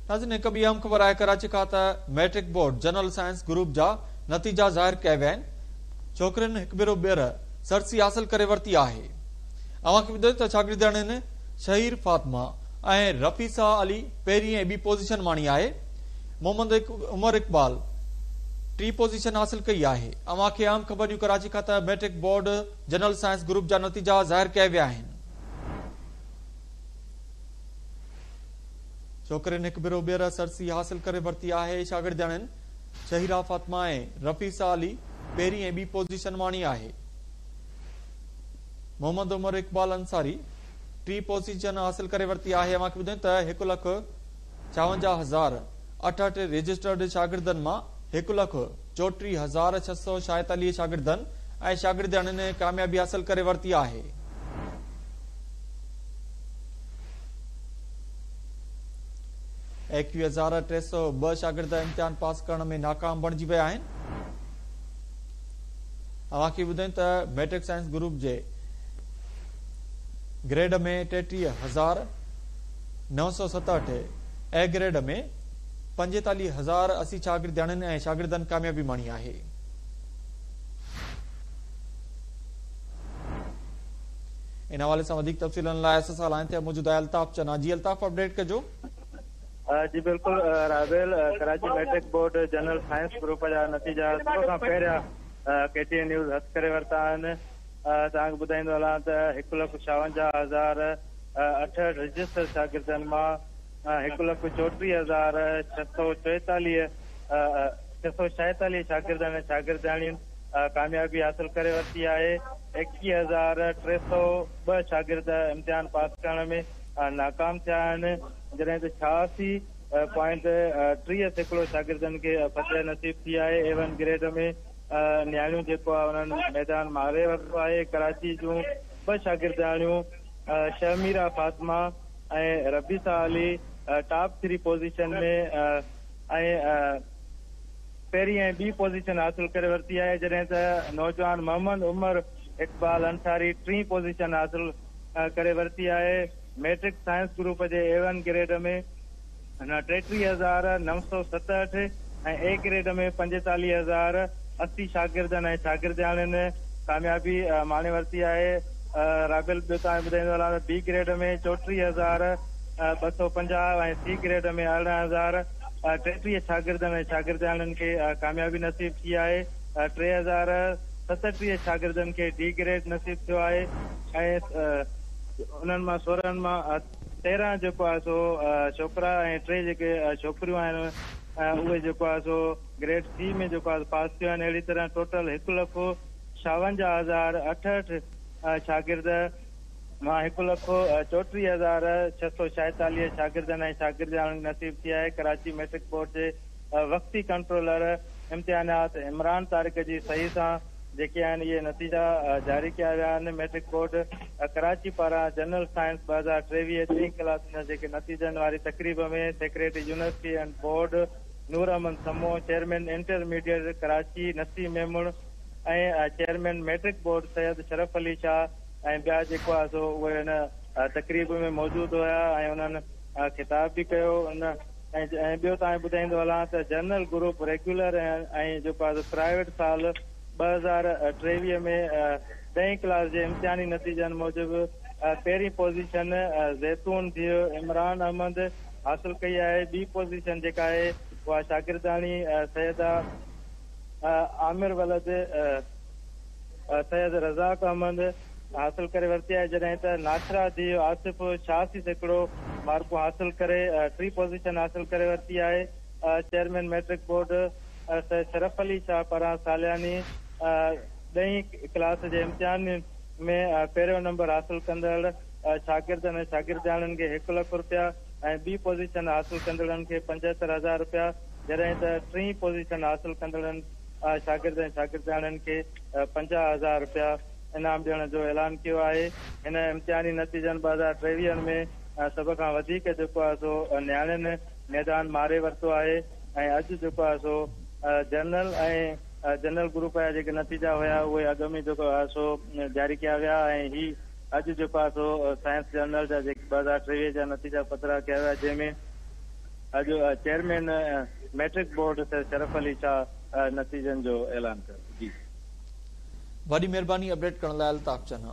ناظرين هڪ ٻي اهم خبر آهي ڪراچي کان ته matric board general science group جا نتيجا ظاهر ڪيا ويا آهن ڇوڪرين هڪ ڀيرو ٻيهر سرسي حاصل ڪري ورتي آهي اوهان کي ٻڌايون ته شاگردياڻين شهير فاطمه ۽ رفيسا علي پهرين ۽ ٻي پوزيشن ماڻي آهي محمد عمر اقبال ٽي پوزيشن حاصل ڪئي آهي اوهان کي اهم خبر ڏيون ڪراچي کان ته matric board general science group جا نتيجا ظاهر ڪيا ويا آهن ڇوڪرين هڪ ڀيرو ٻيهر سرسي حاصل ڪري ورتي آهي، شاگردياڻين شهيرا فاطمه ۽ رفيسه علي پهرين ۽ ٻي پوزيشن ماڻي آهي، محمد عمر اقبال انصاري ٽي پوزيشن حاصل ڪري ورتي آهي، اوهان کي ٻڌايون ته هڪ لک ڇاونجاهه هزار اٺهٺ رجسٽرڊ شاگردن مان هڪ لک چوٽيهه هزار ڇهه سؤ شايد عليء شاگردن ۽ شاگردياڻين ڪاميابي حاصل ڪري ورتي آهي. ايڪويهه هزار ٽي سؤ ٻه شاگرد امتحان پاس ڪرڻ ۾ ناڪام بڻجي ويا آهن. اوهان کي ٻڌايون ته ميٽرڪ سائنس گروپ جي گريڊ ۾ ٽيٽيهه هزار نو سؤ ستهٺ اي گريڊ ۾ پنجيتاليهه هزار اسي شاگردياڻين ۽ شاگردن ڪاميابي ماڻي آهي. ان حوالي سان وڌيڪ تفصيلن لاء اس سان لائن تي موجود آهي الطاف چنا. جي الطاف اپڊيٽ ڪجو. جي بلڪل راويل، Karachi matric board general science group جا نتيجا سڀ کان پهريان ڪي ٽي اين نيوز هٿ ڪري ورتا آهن. توهان کي ٻڌائيندو هلان ته هڪ لک ڇاونجاهه هزار اٺهٺ رجسٽر شاگردن مان هڪ لک چوٽيهه هزار ڇهه سؤ چوئيتاليهه ڇهه سؤ ڇاهيتاليهه شاگردن ۽ شاگردياڻين ڪاميابي حاصل ڪري ورتي آهي، ايڪيهه هزار ٽي سؤ ٻه شاگرد امتحان پاس ڪرڻ ۾ ناڪام ٿيا آهن، جڏهن ته ڇهاسي پوائنٽ ٽيهه سيڪڙو شاگردن کي فتح نصيب ٿي آهي، اي ون گريڊ ۾ نياڻيون جيڪو آهي انهن ميدان مهاري ورتو آهي، ڪراچي جون ٻه شاگردياڻيون Shahmeera Fatima. ۽ Rabisa Ali top three position ۾ ۽ پهرين ۽ ٻي پوزيشن حاصل ڪري ورتي آهي جڏهن ته نوجوان محمد عمر اقبال انصاري ٽين پوزيشن حاصل ڪري ورتي آهي ميٽرڪ سائنس گروپ جي اي ون گريڊ ۾ هن ٽيٽيهه هزار نو سؤ ستهٺ ۽ اي گريڊ ۾ پنجيتاليهه هزار اسي شاگردن ۽ شاگردياڻين ڪاميابي ماڻي ورتي آهي. رابيل ٻيو توهان کي ٻڌائيندو هلان ته بي گريڊ ۾ چوٽيهه هزار ٻه سؤ پنجاهه ۽ سي گريڊ ۾ ارڙهن هزار ٽيٽيهه شاگردن ۽ شاگردياڻين کي ڪاميابي نصيب ٿي آهي. ٽي هزار ستٽيهه شاگردن کي ڊي گريڊ نصيب ٿيو آهي ۽ انهن مان سورهن مان تيرنهن جيڪو آهي سو ڇوڪرا ۽ ٽي جيڪي ڇوڪريون آهن اهي جيڪو آهي سو گريڊ سي ۾ جيڪو آهي پاس ٿيون آهن اهڙي طرح ٽوٽل هڪ لک ڇاونجاهه هزار اٺهٺ شاگرد مان هڪ لک چوٽيهه هزار ڇهه سو ڇايتاليهه شاگردن ۽ شاگردياڻين کي نصيب ٿي آهي ڪراچي ميٽرڪ بورڊ جي وقتي ڪنٽرولر امتحانات عمران طارق جي صحيح سان جيڪي آهن اهي نتيجا جاري ڪيا ويا آهن، ميٽرڪ بورڊ ڪراچي پاران جنرل سائنس ٻه هزار ٽيويهه ٽين ڪلاسن جا جيڪي نتيجن واري تقريب ۾ secretary university and board Noor Ahmed Samo, chairman intermediate Karachi Naseem Memon ۽ chairman matric board Syed Sharaf Ali Shah ۽ ٻيا جيڪو آهي سو اهي ان تقريب ۾ موجود هيا ۽ انهن خطاب به ڪيو ان ۽ ٻيو توهان کي ٻڌائيندو هلان ته جنرل گروپ ريگيولر ۽ جيڪو آهي پرائيويٽ سال ٻه هزار ٽيويهه ۾ ڏهين ڪلاس جي امتحاني نتيجن موجب پهرين پوزيشن زيتون ڌيء عمران احمد حاصل ڪئي آهي ٻي پوزيشن جيڪا آهي اها شاگردياڻي سيده عامر ولد سيد رزاق احمد حاصل ڪري ورتي آهي جڏهن ته ناشرا جي آصف شاهه سي سيڪڙو مارڪون حاصل ڪري ٽي پوزيشن حاصل ڪري ورتي آهي chairman matric board Syed Sharaf Ali Shah پاران سالياني ڏهين ڪلاس جي امتحان ۾ پهريون نمبر حاصل ڪندڙ شاگردن ۽ شاگردياڻين کي هڪ لک رپيا ۽ ٻي پوزيشن حاصل ڪندڙن کي پنجهتر هزار رپيا جڏهن ته ٽين پوزيشن حاصل ڪندڙن شاگرد ۽ شاگردياڻين کي پنجاهه هزار رپيا انعام ڏيڻ جو اعلان ڪيو آهي هن امتحاني نتيجن ٻه هزار ٽيويهن ۾ سڀ کان وڌيڪ جيڪو آهي سو نياڻين ميدان ماري ورتو آهي ۽ اڄ جيڪو آهي سو جنرل ۽ جنرل گروپ جا جيڪي نتيجا هيا اهي اڳ ۾ جيڪو آهي سو جاري ڪيا ويا ۽ هي اڄ جيڪو آهي سو سائنس جنرل جا جيڪي ٻه هزار ٽيويهه جا نتيجا پڌرا ڪيا ويا جنهن ۾ اڄ chairman matric board Syed Sharaf Ali Shah نتيجن جو اعلان ڪيو. وڏي مھرباني اپڊيٽ ڪرڻ لاء الطاف چنا.